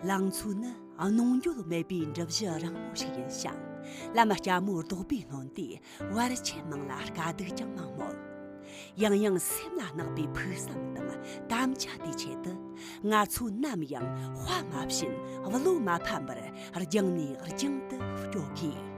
ལང་ཚོ་ནི་གནོང་འགྱོད་མེད་པའི་འགྲུབ་གཞི་རིང་མོ་ཞིག་ཡིན་ཞིང་བླ་མ་སྐྱ་མོ་རྡོག་པས་ནོན་ཏེ་བར་ཆད་མང་ལ་དཀའ་སྡུག་ཀྱང་མང་མོད། ཡང་ཡང་སེམས་ལ་བརྣག་པའི་ཕུགས་བསམ་དང་དམ་བཅའ་དེའི་ཆེད་དུ་ང་ཚོ་ནམ་ཡང་དཔའ་མ་བྱིན་བློ་མ་ཕམ་པར་རྒྱང་ནས་རྒྱང་དུ་སྐྱོད་དགོས།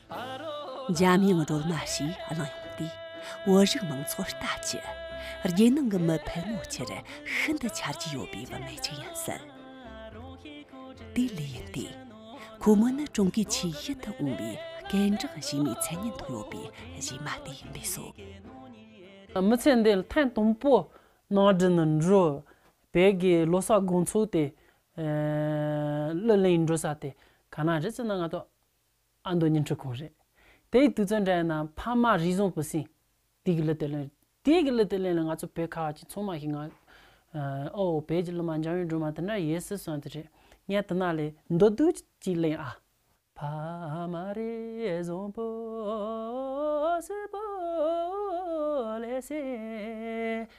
འཇམ་དབྱངས་སྒྲོལ་མ་ཞེས་གླེང་ཡོང་དུས་བོད་རིགས་མང་ཚོགས་ལྟ་ཅི། རྒྱལ་ནང་གི་མི་ཕལ་མོ་ཆེར་ཤིན་ཏུ་ཆ་རྒྱུས་ཡོད་པའི་བུད་མེད་ཅིག་ཡིན་སྲིད། དེ་ལས་ཡིན་ཏེ། ཁོ་མོ་ནི་ཀྲུང་གོའི་ཆེས་ཡིད་དུ་འོང་བའི་རྐྱེན་གྲགས་གཞིས་མའི་མཚན་སྙན་ཐོག་ཡོད་པའི་གཞས་མ་དེ་ཡིན་པས་སོ། མི་ཚེ་འདིའི་ཐེངས་དང་པོ་ནང་དྲན་ནི་འགྲུལ་བས་ཀྱི་ལོ་སར་དགོང་ཚུགས་ཏེ་གླུ་ལེན་འགྲོ་ས་དེ་ག་ན་རེད་ཅེ་ན་ང་ཐོག་ཨ་མདོ་ཉིན་འཁྲུག་ཁོག་རེད། དེ་ཡི་དུས་ཚོད་འདྲ་ཡིན་ན་ཕ་མ་རིས་བཟུང་བུ་སྲིང། དུས་ཀྱི་གླུ་དེ་ལོན། དུས་ཀྱི་གླུ་དེ་ལོན་ལ་ང་ཚོ་བོད་ཁ་བ་ཅི་མཚུངས་མ་ཞིག་ངང། ཨོ། བོད་ཀྱི་གླུ་མ་འཇམ་བའི་སྒྲོལ་མ་དེ་འདྲ་ཡོད་སྲིད་གསུངས་དེ་རེད། ངས་དེ་ནག་ལས། མདོ་སྡུག་ཅིག་གླེང་ཨ། ཕ་མ་རིས་བཟུང་བུ་སྲིང་བུ་ལས་སྲིང།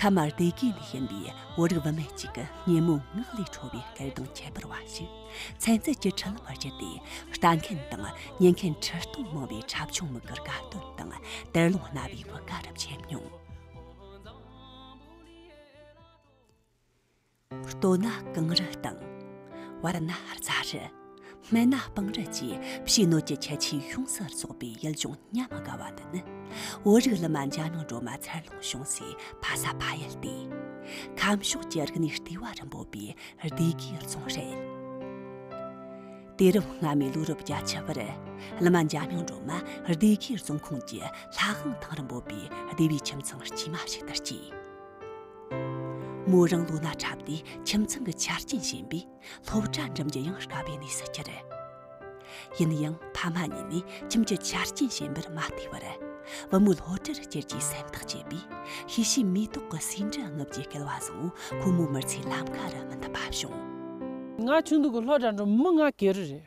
ཁ་མར་དེ་གས་ནས་ཞེན་པའི་བོད་རིགས་བུད་མེད་ཅིག་ཉིན་མོའི་ངག་ལས་འཕྲོ་བའི་སྐད་གདངས་ཁྱད་པར་བ་ཞིག་ཚན་རྩལ་གྱི་ཁྲིད་ལམ་བར་གྱུར་ཏེ་ལྟ་མཁན་དང་ཉན་མཁན་ཁྲི་སྟོང་མང་བའི་ཁྲབ་ཆུང་མིག་གིར་དགའ་སྟོན་དང་དད་རླུང་རྣ་བའི་བུ་ག་རུ་འཁྱིལ་མྱོང། ལྟོ་ན་རྐང་རུལ་དང། བར་ན་རྩ་རུལ། སྨད་ན་སྤང་རུལ་བཅས་ཕྱིའི་གནོད་ཀྱི་ཁྱད་ཆོས་ཡོངས་སུ་རྫོགས་པའི་ཡུལ་ལྗོངས་ཉམས་དགའ་བ་འདི་ནི་བོད་རིགས་ལི་མ་འཇའ་ནང་སྒྲོལ་མ་འཚར་ལོངས་བྱུང་སའི་ཕ་ས་ཕ་ཡུལ་ཏེ། ཁམས་ཕྱོགས་ཀྱི་རིག་གནས་ལྟེ་བ་རུ་འབོད་པའི་སྡེ་དགེའི་རྫོང་རེད། དུས་རབས་སྔ་མའི་ལོ་རབས་བརྒྱ་ཆ་བར་ལི་མ་འཇའ་ནང་སྒྲོལ་མ་སྡེ་དགེའི་རྫོང་ཁོངས་ཀྱི་ལྷ་ཧང་ཐང་རུ་འབོད་པའི་སྡེ་བའི་ཁྱིམ་ཚང་དཀྱུས་མ་ཞིག་ཏུ་སྐྱེས། མོ་རང་ལོ་ན་ཁྲབ་སྟེ་ཁྱིམ་ཚང་གི་ཆ་རྐྱེན་ཞན་པས་སློབ་གྲྭ་འགྲིམ་རྒྱུ་ཡང་དཀའ་བའི་གནས་སུ་གྱུར། ཡིན་ཡང་ཕ་མ་གཉིས་ནས་ཁྱིམ་གྱི་ཆ་རྐྱེན་ཞན་པར་མ་བལྟས་པར་བུ་མོའི་སློབ་གྲྭར་བསྐྱལ་རྒྱུའི་སེམས་ཐག་བཅད་པས་ཤེས་ཤེས་མེ་ཏོག་གི་ཟེའུ་འབྲུ་རྔུབ་རྒྱུའི་སྐལ་བ་བཟང་བོ་ཁོ་མོའི་མི་ཚེའི་ལམ་ཁ་རུ་མི་འདུག་པ་བྱུང། ང་ཆུང་དུས་ཀྱི་སློབ་གྲྭ་འགྲོ་མི་ང་གེ་རུ་རེད།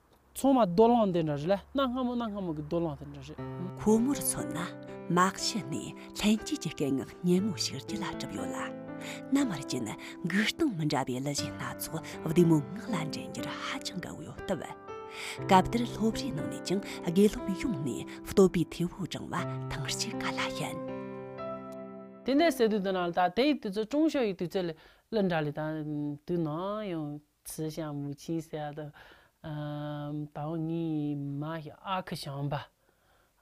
ཚོང་མ་རྡོ་ལང་དེ་འདྲ་རེད་ལ་གནའ་སྔ་མོ་གནའ་སྔ་མོ་གི་རྡོ་ལང་དེ་འདྲ་རེད། ཁོ་མོར་མཚོན་ན་དམག་ཞི་ནི་ལྷན་སྐྱེས་ཀྱི་སྐད་ངག་སྙན་མོ་ཞིག་ལྗིད་ལ་གྲུབ་ཡོད་ལ། མནའ་མར་གྱིན་སྒུལ་སྟངས་མི་འདྲ་བའི་ལི་གཞས་སྣ་ཚོགས་བདུད་མོའི་ངག་ལ་འདྲེན་རྒྱུར་ཧ་ཅང་དགའ་བོ་ཡོད་སྟབས། སྐབས་དེར་སློབ་རའི་ནང་ནས་ཀྱང་དགེ་སློབ་ཡོངས་ནས་བསྟོད་པའི་ཐེ་བོ་བསྒྲེང་བ་ཐེངས་གཅིག་ག་ལ་ཡིན། དེ་འདྲའི་ཟེར་དུས་དེ་ནང་ལ་དག་དེ་ཡི་དུས་ཚོད་ཀྲུང་ཞོ་ཡི་དུས་ཚོད་ལས་ལི་འདྲ་ལི་དང་དུས་ནང་ཡང། ཚིག་ཞང་མུ་ཆིང་གསལ། དྭངས་སྙིགས་མ་ཞིང་ཨ་ཁུ་ཞང་པ།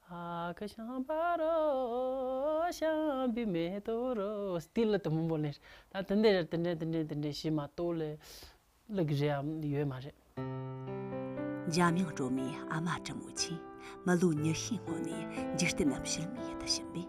ཨ་ཁུ་ཞང་པ་རོ། ཞང་པའི་མེ་ཏོག་རོ། སྟི་ལི་དུ་མུ་འབོ་ལེར། ད་དེ་འདྲས་དེ་འདྲས་དེ་འདྲས་དེ་འདྲས་ཞེས་མ་གཏོགས་ལས། ལུགས་ཀྱི་རེ་འམ་ཡོད་མ་རེད། འཇམ་དབྱངས་སྒྲོལ་མའི་ཨ་མ་བཀྲ་མུ་ཆིང། མི་ལོ་ཉི་ཤུའི་སྔོན་ནས་འཇིག་རྟེན་ནམ་ཕྱིར་མི་ཡི་དུ་ཞུམ་པས།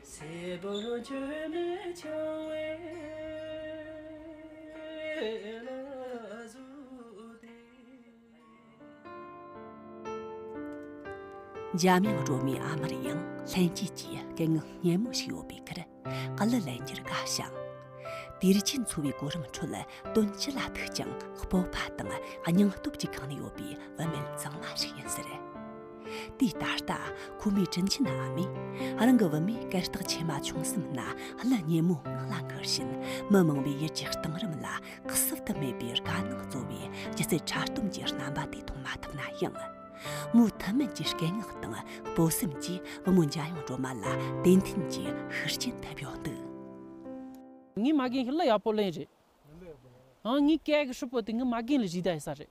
སྲས་པོ་བཅོས་མའི་ཆང་བས་ལ་བཟོས་ཏེ། འཇར་མན་གྲོང་མི་ཨ་མར་ཡང་ལྷན་སྐྱེས་ཀྱི་སྐད་ངག་སྙན་མོ་ཞིག་ཡོད་པའི་ཁར་ཀ་ལི་ལན་གྱི་དགའ་ཞིང། དུས་ཆེན་འཚོ་བའི་གོ་རིམ་ཁྲོད་དོན་སྤྱི་ལ་ཐུག་ཀྱང་སྤོབས་པ་དང་སྙིང་སྟོབས་ཀྱིས་གང་ནུས་ཡོད་པའི་བུད་མེད་གཙང་མ་ཞིག་ཡིན་ཟེར། དེ་ད་ལྟ་ཁོ་མོའི་དྲིན་ཆེན་ཨ་མས་རང་གི་བུད་མེད་སྐད་གྲགས་ཆེ་མ་བྱུང་སེམས་ན་གླུ་སྙན་མོ་ངག་ལ་འཁུར་བཞིན་མི་མང་བའི་ཡིད་ཀྱི་གཏིང་རིམ་ལ་གསོད་དུ་མེད་པའི་དཀའ་སྣང་སྩོལ་བའི་སྒྱུ་རྩལ་ཕྲ་སྟོམ་གྱི་རྣམ་པ་དེ་མཐོང་མ་ཐུབ་ན་ཡང། མོའི་མཐུན་མིན་གྱི་སྐད་ངག་དང་སྤོབས་སེམས་ཀྱིས་བུ་མོ་འཇའ་ཡང་སྒྲོལ་མ་ལ་ཏན་ཏན་གྱི་ཤུགས་རྐྱེན་ཐེབས་ཡོང་དུས། ངའི་མ་རྒན་ཞིག་གླུ་ཡག་པོ་གླེང་རེད། ངའི་སྐད་ཧྲིལ་པོ་དེ་ངའི་མ་རྒན་ལས་གཞི་བདག་ཡིན་ས་རེད།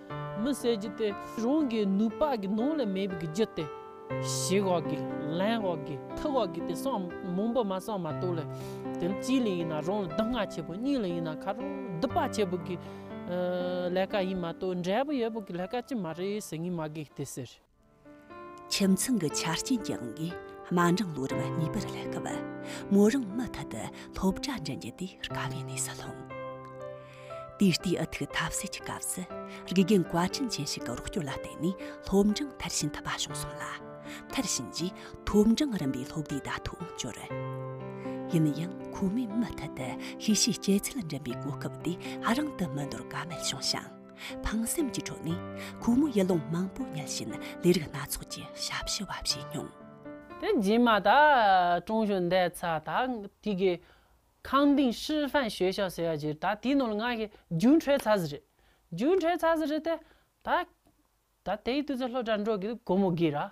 མི་བསད་རྒྱུ་དེ་རང་གི་ནུས་པ་གི་ནང་ལ་མེད་པའི་རྒྱུ་དེ། བྱེད་དགོས་གི་ལེན་དགོས་གི་ཐུབ་དགོས་གི་དེ་སོང་མང་པོ་མ་སོང་མ་གཏོགས་ལ། དེ་གཅིག་ལ་ཡིན་ན་རང་ལ་སྡུག་བསྔལ་ཆེ་པོ་གཉིས་ལ་ཡིན་ན་ཁ་རོག་སྡུག་པ་ཆེ་པོ་གི་ལས་ཀ་ཡིན་མ་གཏོགས་འབྲས་བུ་ཡོད་པོ་གི་ལས་ཀ་ཅི་མ་རེད་ཟེར་ངེས་མ་དགོས་དེ་ཟེར། ཁྱིམ་ཚང་གི་ཆ་རྐྱེན་ཀྱང་དམའ་འབྲིང་ལོ་རབས་གཉིས་པར་སླེབས་སྐབས་མོ་རང་མུ་མཐུད་དུ་སློབ་གྲྭ་འགྲིམ་རྒྱུ་དེ་དཀའ་བའི་གནས་སུ་ལྷུང། ད་ལྟའི་ཨ་ཐུག་ཐབས་ཟད་ཀྱི་སྐབས་སུ་དགེ་རྒན་བཀའ་དྲིན་ཅན་ཞིག་གི་རོགས་སྐྱོར་ལ་བརྟེན་ནས་སློབ་འབྲིང་མཐར་ཕྱིན་ཐུབ་པ་བྱུང་སོང་ལ། མཐར་ཕྱིན་རྗེས་ཐོབ་འབྲིང་རིམ་པའི་སློབ་དེབ་དག་ཐོག་བསྐྱུར། ཡིན་ཡང་ཁོ་མོས་མུ་མཐུད་དུ་ཤེས་བྱའི་སྐྱེད་ཚལ་འགྲིམ་པའི་གོ་སྐབས་དེ་རང་དུ་མི་འདོར་ཀ་མེད་བྱུང་ཞིང། ཕངས་སེམས་ཀྱི་ཁྲོད་ནས་ཁོ་མོ་ཡུལ་ལུང་མང་པོ་ཉལ་བཞིན་ལས་རིགས་སྣ་ཚོགས་ཀྱི་ཞབས་ཕྱི་བ་བྱས་མྱོང། དེ་རྗེས་མ་ད་ཀྲུང་གཞོན་འདས་ཚར་ད་ཐིག་གི་ཁང་ཏིང་ཧྲི་ཧྥན་ཞོལ་ཤག་ཟེར་བ་བརྒྱུད་ད་དེའི་ནང་ལ་ང་ཞིག་རྒྱུན་ཁྲོད་ཚར་ཟིག་རེད། རྒྱུན་ཁྲོད་ཚར་ཟིག་རེད་དེ། ད། ད་དེའི་དུས་ཚོད་ལྷོད་དྲག་འགྲོ་གི་འདུག་ཁོ་མོ་སྒེར་ར།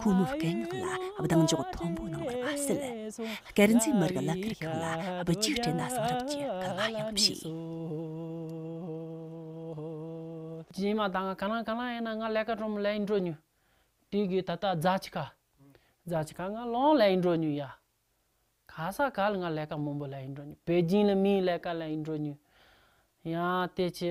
ཁོང་མོའི་དཀའ་རྙོག་ལ་གདེང་འཇོག་མཐོན་པོ་གནང་བར་མ་ཟད། དཀར་མཛེས་མི་རིགས་ལག་ཁྱེར་ཁང་ལ་བུ་གཅིག་སྤྲད་ན་གསང་རབ་ཀྱི་བསྐལ་བ་ཡོང་བར་བྱས། རྗེས་མ་ད་ང་ག་ལ་ག་ལ་ཡིན་ན་ང་ལས་ཀ་གྲོ་མོ་ལས་ཡིན་འགྲོ་ཉོས། དུས་ཀྱི་ད་ལྟ་རྫ་ཆི་ཁ། རྫ་ཆི་ཁ་ང་ལོང་ལས་ཡིན་འགྲོ་ཉོས་ཡ། ག་ས་ག་ལ་ང་ལས་ཀ་མོན་པོ་ལས་ཡིན་འགྲོ་ཉོས་བེ་ཇིང་ལ་མིའི་ལས་ཀ་ལས་ཡིན་འགྲོ་ཉོས། ཡང་དེ་ཆི།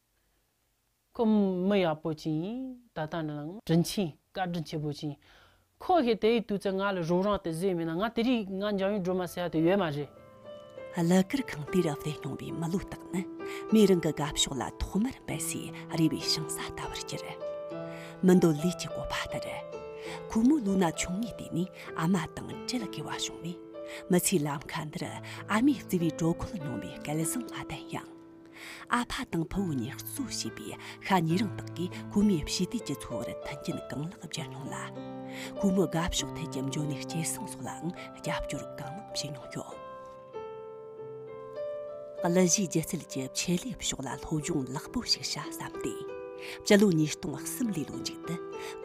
ཁོ་མི་ཡག་པོ་ཅིང་ད་ལྟ་ནི་ལངས། དྲིན་ཆེན་བཀའ་དྲིན་ཆེ་པོ་ཅིང། ཁོ་ཞེས་དེ་ཡི་དུས་ཚོད་ང་ལ་རུང་རང་དེ་བཟོས་མེད་ན་ང་དེ་རིགས་ང་འཇང་ཡུལ་སྒྲོལ་མ་ཟེར་བ་དེ་ཡོད་མ་རེད། གླུ་གར་ཁང་དེར་བསྡད་མྱོང་བའི་མི་ལོ་དག་ནི་མིའི་རང་གི་དགའ་ཕྱོགས་ལ་ཐོག་མར་འབད་སའི་རེ་བའི་ཤིང་སཱ་ལྟ་བུར་གྱུར། མི་འདོད་ལུས་ཀྱི་བཀོད་པ་ལྟར། ཁོ་མོའི་ལུས་ན་ཆུང་ངུའི་དུས་ནས་ཨ་མ་དང་བྲལ་དགོས་བ་བྱུང་བས། མི་ཚེའི་ལམ་ཁ་འདིར་ཨ་མའི་བརྩེ་བའི་དྲོད་ཁོལ་མྱོང་བའི་སྐལ་བཟང་མ་ལྡན་ཡང། ཨ་ཕ་དང་ཕུ་བོ་གཉིས་གཙོ་བྱས་པའི་ཤ་ཉེ་རིང་དག་གིས་ཁོ་མོའི་ཕྱི་དུས་ཀྱི་འཚོ་བར་མཐུན་རྐྱེན་གང་ལེགས་སྦྱར་མྱོང་ལ། ཁོ་མོའི་དགའ་ཕྱོགས་ཐད་ཀྱི་འཇོན་ནུས་སྐྱེད་སྲིང་སོགས་ལའང་རྒྱབ་སྐྱོར་གང་མང་བྱས་མྱོང་ཡོད། གླུ་གཞས་སྒྱུ་རྩལ་གྱི་ཆེད་ལས་ཕྱོགས་ལ་སློབ་སྦྱོང་ལེགས་པོ་ཞིག་བྱ་བསམས་ཏེ། སྤྱི་ལོ་ཉིས་སྟོང་གསུམ་ལོའི་ལོ་མཇུག་ཏུ་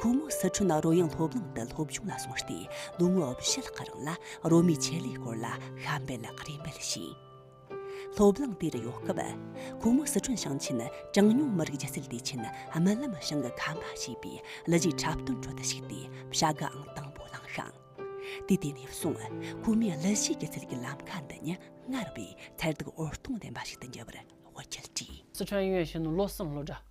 ཁོ་མོ་སི་ཁྲོན་རོལ་དབྱངས་སློབ་གླིང་དུ་སློབ་སྦྱོང་ལ་སོང་སྟེ་ལོ་ངོ་བཞི་ལྷག་རིང་ལ་རོལ་མོའི་ཆེད་ལས་སྐོར་ལ་གཤམ་སྤེལ་རེ་འབུལ་བྱས། སློབ་གླིང་དེར་ཡོད་སྐབས། ཁོང་མོ་སི་ཁྲོན་ཞིང་ཆེན་གྲངས་ཉུང་མི་རིགས་སྒྱུ་རྩལ་སྡེ་ཆེན་རྨི་ལམ་ཞིང་གི་ཁ་མ་ཞེས་པའི་གླུ་གཞས་འཁྲབ་སྟོན་ཁྲོད་དུ་ཞུགས་ཏེ་བྱ་དགའང་དང་པོ་བླངས་ཤིང། དུས་དེ་ནས་བཟུང་ཁོ་མོས་གླུ་གཞས་སྒྱུ་རྩལ་གྱི་ལམ་ཁ་འདི་ཉིད་སྔར་བས་མཐར་ཐུག་འོད་སྟོང་ལྡན་པ་ཞིག་ཏུ་འགྱུར་བར་བཀའ་ཁྱབ་བྲིས། སི་ཁྲོན་ཡུལ་ཞེན་ནོ་བློ་བཟང་བློ་གྲྭ།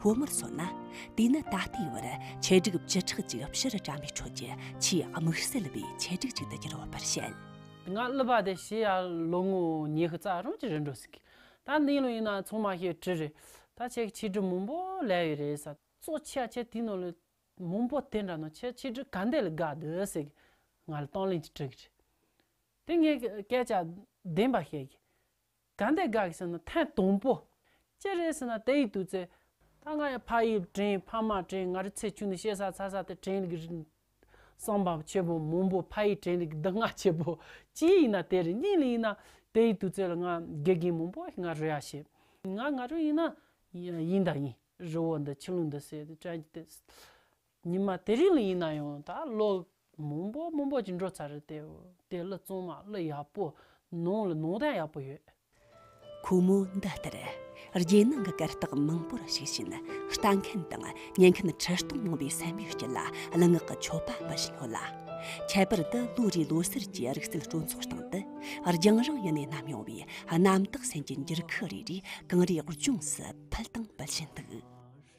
ཁོ་མོར་མཚོན་ན་དེ་ནི་ད་ལྟའི་བར་ཆེད་སྒྲིག་བཅུ་ཕྲག་ཅིག་ཕྱིར་བཀྲམ་པའི་ཁྲོད་ཀྱི་ཆེས་དམིགས་བསལ་བའི་ཆེད་སྒྲིག་ཅིག་ཏུ་གྱུར་བ་པར་བཤད། ང་ལུས་པ་དེ་ཤི་ཡ་ལོ་ངོ་ཉི་ཤུ་རྩ་རུང་ཅིག་རེད་འགྲོ་སྲིད། ད་འདི་ལོ་ཡིན་ན་ཚོང་མ་ཤེས་བྲིས་རེད། ད་ཁྱེད་ཀྱི་ཆེད་སྒྲིག་མང་པོ་ལས་ཡོད་རེད། གཙོ་ཆེ་ཁྱེད་དེ་ནང་ལོ་མང་པོ་དེ་འདྲ་ནང་ཁྱེད་ཆེད་སྒྲིག་ག་འདི་ལ་དགའ་འདོད་སྲིད། ང་ལ་དང་ལེན་ཅིག་བྲིས། དེ་ངས་སྐད་ཆ་བདེན་པ་བཤད། གང་དེ་དགག་གིས་ཟེར་ན་ཐེངས་དང་པོ། ཅི་རེད་ཟེར་ན་དེ་ཡིག་ཏུ་ཚེ། ད་ང་ཡང་ཕ་དབྱིབས་དྲན་ཕ་མ་དྲན་ང་རི་ཚེ་ཆུང་ནས་ཤེས་ས་ཚ་ས་དེ་དྲན་ལི་གི་རི། སངས་པའམ་ཆེ་བོའམ་མོང་པོ་ཕ་ཡིས་དྲན་ལི་གི་འདི་ང་ཆེ་བོ། ཅི་ཡིན་ན་དེ་རེད་གཉིས་ལ་ཡིན་ན། དེ་ཡིག་ཏུ་ཚེ་ལ་ང་དགེ་རྒན་མང་པོ་ང་རི་ཡ་ཞེས། ང་ང་རི་ཡིན་ན། ཡིན་དང་ཡིན་རི་བོ་འདི་ཆུ་ཀླུང་འདི་ཟེར་དྲན་གྱི་དེ། ཉི་མ་དེ་རིང་ལ་ཡིན་ན་ཡང་ད་ལོ་མུན་པོ་མུན་པོ་ཅིག་འགྲོ་ཚར་རེད་དེ་དེ་གླུ་བཙོང་མ་གླུ་ཡག་པོ་ནང་ལ་ནང་དང་ཡག་པོ་ཡོད། ཁོ་མོ་འདི་ལྟར་རྒྱལ་ནང་གི་གར་སྟེགས་མང་པོར་ཞུགས་ཤིང་ལྟ་མཁན་དང་ཉན་མཁན་ཁྲི་སྟོང་མང་པོའི་བསམ་ཡུལ་སྐྱིད་ལ་གླུ་ངག་གི་མཆོད་པ་འབུལ་བཞིན་ཡོད་ལ། ཁྱད་པར་དུ་ལོ་རེའི་ལོ་སར་གྱི་རིག་རྩལ་སྤྲོ་ཚོགས་སྟེང་དུ་རྒྱང་རིང་ཡུལ་ནས་ནམ་ཡོང་བའི་གནམ་བདག་སེང་གེ་འགྱུར་ཁུག་རེ་རེས་གངས་རིའི་ལྗོངས་སུ་ཕུལ་དང་འབུལ་བཞིན་འདུག།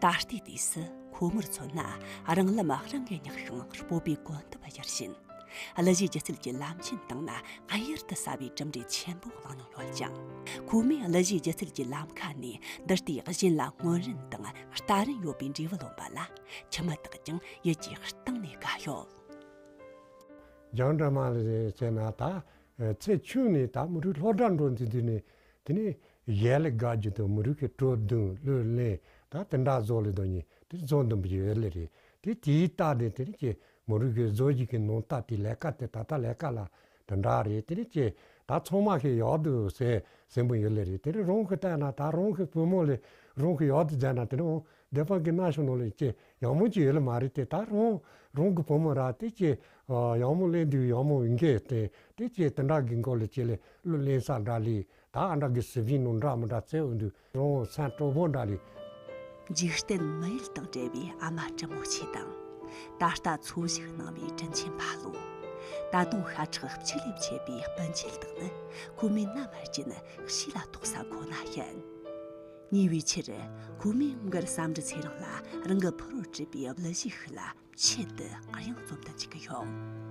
ད་ལྟའི་དུས་སུ་ཁོ་མོར་མཚོན་ན་རང་ལམ་རང་གིས་རྙེད་ཤིང་སྤོབས་པའི་གོ་འདུ་བར་གྱུར་ཕྱིན་གླུ་གཞས་སྒྱུ་རྩལ་གྱི་ལམ་ཆེན་སྟེང་ན་གཡུར་དུ་ཟ་བའི་གྲུབ་འབྲས་ཆེན་པོ་བླངས་མྱོང་ཡོད་ཀྱང། ཁོ་མོས་གླུ་གཞས་སྒྱུ་རྩལ་གྱི་ལམ་ཁ་ནས་འདི་ལྟའི་གཞན་ལ་སྔོན་རིན་དང་ལྟ་རིན་ཡོད་པའི་འབྲས་བུ་ལོན་པ་ལ་ཁྱི་མི་དག་ཀྱང་ཡིད་ཀྱི་གཏིང་ནས་དགའ་ཡོད། རྒྱང་གྲགས་མ་ལས་བྱས་ན་ད་ཚེ་ཆུང་ནས་ད་མི་རུས་ལྷོ་བྲག་འགྲོ་འཛིན་དུས་ནས་དེ་ནས་གཞས་ལས་དགའ་རྒྱུ་དང་མི་རུས་ཀྱི་སྤྲོ་བསྡུང་བློས་བརླན་ད་དེ་འདྲ་བཟོ་ལས་དོན་གཉིས་དེ་བཟོ་འདོན་པའི་གཞས་ལས་རེད་དེ་དེའི་རྟགས་དེ་དེ་རིང་གི་མོ་རུས་ཀྱི་བཟོ་བྱེད་ཀྱི་ནང་རྟ་དེའི་ལས་ཀ་དེ་ད་ལྟ་ལས་ཀ་ལ་འདི་འདྲ་རེད་དེ་རེད་ཅེས་ད་ཚང་མ་ཤི་ཡག་ཏུ་ཟས་ཟིན་པོ་ཡོད་ལེ་རེད་དེ་རིང་རང་གི་རྟས་ན་ད་རང་གི་བུ་མོ་ལས་རང་གི་ཡག་ཏུ་མཛད་ན་དེ་རིང་འོང་བདེ་པ་གི་ན་ཤོ་ནོ་ལེ་ཅེས་ཡག་མོ་ཅིག་ཡོད་ལེ་མ་རེད་དེ་ད་རང་རང་གི་བུ་མོ་ར་དེ་ཅེས་ཡག་མོ་གླེང་དུས་ཡག་མོ་ཡིན་གྱི་དེ་དེ་ཅེས་དེ་འདྲ་གི་མགོ་ལ་ཅི་ལེ་ལོ་གླེང་ས་འདྲ་ལེ་ད་ཨ་འདྲ་གི་ཟིབ་ཤིང་ནང་འདྲ་མི་འདྲ་ཚད་འོང་དུས་རོང་བོ་ཚ་གྲོགས་པོ་འདྲ་ལས། འཇིག་རྟེན་མི་ཡུལ་དང་བྲལ་བའི་ཨ་མ་བཀྲི་མོ་ཆེ་དང། ད་ལྟ་འཚོ་བཞུགས་གནང་བའི་དྲིན་ཆེན་ཕ་ལོ། ད་དུང་ཤ་ཁྲག་བཅུད་ལས་མཆེད་པའི་སྤུན་མཆེད་དག་ནི་ཁོ་མོའི་མནའ་མར་གྱིན་གཤིས་ལ་དོགས་ས་ཁོ་ན་ཡིན། ཉེ་བའི་ཆར་ཁོ་མོས་མགར་བསམ་འགྲུལ་ཚེ་རིང་ལ་རང་གི་ཕུ་རུ་བྲིས་པའི་གླུ་གཞས་ཤིག་ལ་ཆེད་དུ་དབྱངས་རྩོམ་དུ་འཇུག་གི་ཡོད།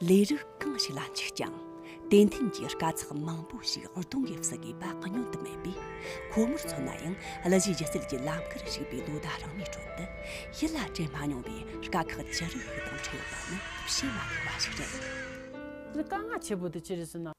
ལས་རིགས་གང་ཞིག་ལ་འཇུག་ཀྱང་དེ་མཐུན་གྱི་དཀའ་ཚེགས་མང་པོ་ཞིག་གདོང་གིས་བསུ་དགོས་པ་བསྙོན་དུ་མེད་པས་ཁོ་མོར་མཚོན་ན་ཡང་གླུ་གཞས་སྒྱུ་རྩལ་གྱི་ལམ་ཁར་ཞུགས་པའི་ལོ་ཟླ་རིང་མོའི་ཁྲོད་དུ་ཡིད་ལ་དྲན་མ་མྱོང་བའི་དཀའ་ཁག་ཅི་རིགས་ཤིག་དང་འཕྲད་ཡོད་པ་ནི་བཤད་མ་དགོས་པ་ཞིག་རེད། དཀའ་ངལ་ཆེ་པོ་དེ་ཅི་རེད་ཟེར་ན།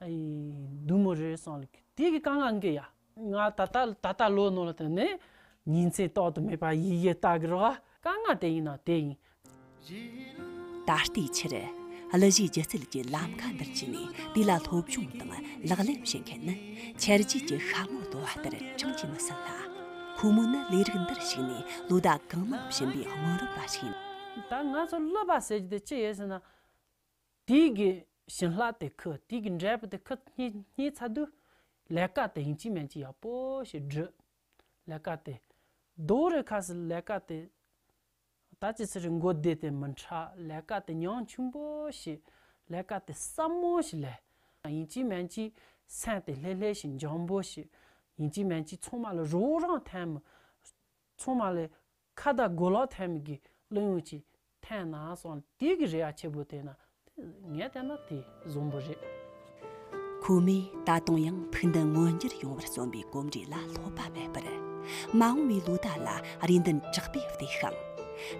བདུད་མོ་རེ་སོང་ལ་དེ་གི་ཀང་ཀང་གི་ཡ། ང་ད་ལྟ་ད་ལྟ་ལོ་ནོ་ལ་དེ་ནི། ཉིན་མཚན་རྟོག་ཏུ་མེད་པ་ཡི་ཡི་ལྟ་གི་རོ། ཀང་ཀང་དེ་ཡིན་ན་དེ་ཡིན། ད་ལྟའི་ཆར། གླུ་གཞས་སྒྱུ་རྩལ་གྱི་ལམ་ཁ་འདིར་བྱས་ནས་དེ་ལ་སློབ་སྦྱོང་དང་ལག་ལེན་བྱེད་མཁན་ནི། ཆར་རྗེས་ཀྱི་ཤ་མོ་ལྟོ་བ་ལྟར་ཆུང་གྱིས་མི་ཟིན་ལ། ཁོ་མོ་ནི་ལས་རིགས་འདིར་ཞུགས་ནས་ལོ་ཟླ་གང་མང་ཕྱིན་པའི་སྔོན་རབས་པ་ཞིག་ཡིན། ད་ང་ཚོ་གླུ་པ་ཟེར་རྒྱུ་དེ་ཅི་ཡོད་ཟེར་ན། དུས་ཀྱི་བྱིན་བརླ་དེ་ཁུ་དུས་ཀྱི་འབྲས་བུ་དེ་ཁུ་སྙིའི་ཚ་དུས་ལས་ཀ་དེ་ཡིན་གཅིག་མན་གཅིག་ཡག་པོ་ཞིག་བསྒྲུབས་ལས་ཀ་དེ་རྡོ་རི་ཁ་སི་ལས་ཀ་དེ་ད་ཅི་ཚེ་རི་མགོ་བདེ་དེ་མི་འཕྲ་ལས་ཀ་དེ་མྱང་ཆུང་པོ་ཞིག་ལས་ཀ་དེ་སྲབ་མོ་ཞིག་ལས་ཀ་ཡིན་གཅིག་མན་གཅིག་སེམས་དེ་ལྷེ་ལྷེ་ཞིག་འཇམ་པོ་ཞིག་ཡིན་གཅིག་མན་གཅིག་ཚང་མ་ལ་རོགས་རང་འཐེན་མི་ཚང་མ་ལས་ཁ་བརྡ་མགོ་ལོག་ཐལ་མོ་གི་བླུན་ཡོངས་ཀྱི་ཐན་ན་སོང་དེ་གི་རེ་བ་ཆེ་པོ་དེ་ན་ངས་བལྟས་ན་དེ་བཟང་པོ་རེད། ཁོ་མོས་ད་དུང་ཡང་ཕུགས་འདུན་མངོན་འགྱུར་ཡོང་བར་རྩོམ་པའི་གོམས་འདྲིས་ལ་ལྷོད་པ་མེད་པར། མ་འོངས་པའི་ལོ་ཟླ་ལ་རེ་འདུན་དྲག་པོས་བརྟས་ཤིང།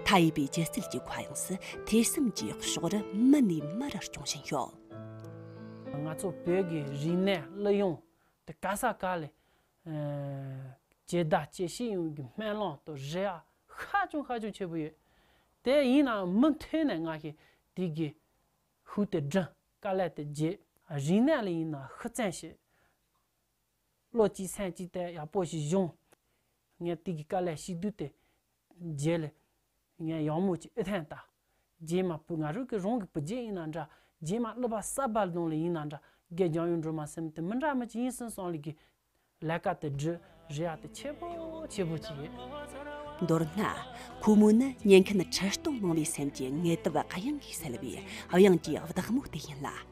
མཐའ་ཡས་པའི་སྒྱུ་རྩལ་གྱི་ཁ་གཡང་སུ་ཐེ་སུམ་གྱིས་ཕྱོགས་རི་མི་ནས་མི་རུ་སྐྱོང་བཞིན་ཡོད། ང་ཚོ་བོད་ཀྱི་རིག་གནས་གླུ་དབྱངས་དེ་ག་ས་ག་ལས་རྒྱལ་བདག་སྐྱེ་ཤི་ཡོང་རྒྱུའི་སྨན་ལོང་དུ་རེ་བ་ཧ་ཅང་ཧ་ཅང་ཆེ་པོ་ཡོད། དེ་ཡིན་ནའང་མུ་མཐུད་ནས་ང་ཤེས་དེ་གི་ཧུད་དེ་བསྒྲིམ་དཀའ་ལས་དེ་བརྗེད། རིག་གནས་ལ་ཡིན་ནའང་ཤུགས་བསྩན་བྱེད། བློ་གཅིག་སེམས་གཅིག་དེ་ཡག་པོ་ཞིག་བྱུང། ངས་དེ་གི་དཀའ་ལས་ཞིག་བསྡུས་ཏེ་རྗེ་ལས། ངས་ཡང་མོ་ཅིག་ཨི་ཐན་ལྟ། རྗེས་མ་བུ་ང་རུ་གི་རང་གི་བུ་རྗེ་ཡིན་ན་འདྲ། རྗེས་མ་གླུ་པ་ས་སྦ་ལྡོང་ལི་ཡིན་ན་འདྲ། སྒེར་རྒྱང་ཡོད་འགྲོ་མ་སེམས་དུ་མི་འདྲ་མི་ཅི་ཡིན་སིན་སང་ལི་གི། ལས་ཀ་དེ་འདྲི་རི་ཡ་དེ་ཆེ་པོ་ཆེ་པོ་ཅིག་ཡིན། མདོར་ན། ཁོ་མོ་ནི་ཉན་མཁན་ཁྲི་སྟོང་མང་བའི་སེམས་ཀྱི་ངལ་དུབ་གཡང་གིས་སེལ་བའི་དབྱངས་ཀྱི་བདག་མོ་དེ་ཡིན་ལ།